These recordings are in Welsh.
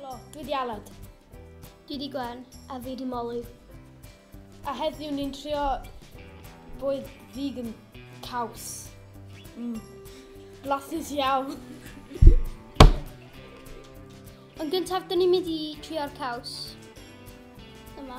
Helo, dwi di Aled. Dwi di Gwen, a fi di Molly. A heddiw ni'n trio bwyd vegan caws. Mm. Blasus iawn. Yn gyntaf, dyn ni'n mynd i trio'r caws. Yma.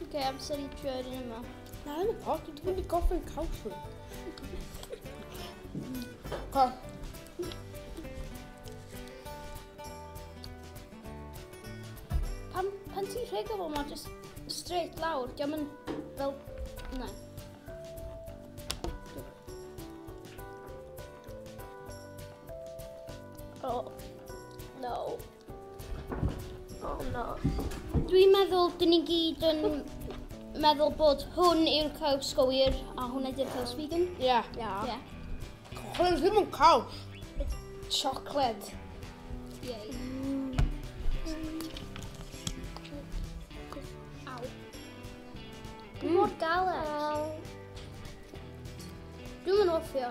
Oce, okay, amser i drio'r un yma. Na, yn y pot, dwi'n mynd i gofyn caws hwn. Co. Pan, pan ti'n rheg o fo, mae just straight lawr, diolch yn fel... Na. Oh, no. Oh no. Dwi'n meddwl dyn ni gyd yn meddwl bod hwn yw'r caws go wir a hwn ydy'r caws vegan. Ie. Yeah. Yeah. Yeah. Cochlen ddim yn caws. It's chocolate. Yay. Mm. Aw. Mm. Mor galed. Dwi'n mynd ofio.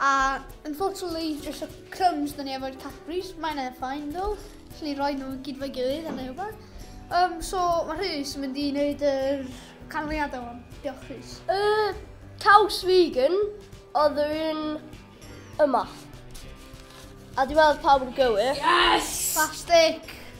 A unfortunately, just y crumbs dyn ni efo'r Cadbury's, mae yna ffain ddo, lle ni roi nhw gyd fo'i gilydd a neu rhywbeth. Um, so, mae Rhys yn mynd i wneud yr canlyniadau o'n. Diolch, Rhys. Y caws vegan oedd yn yma. A dwi'n meddwl pawb yn gywir. Yes! Plastic!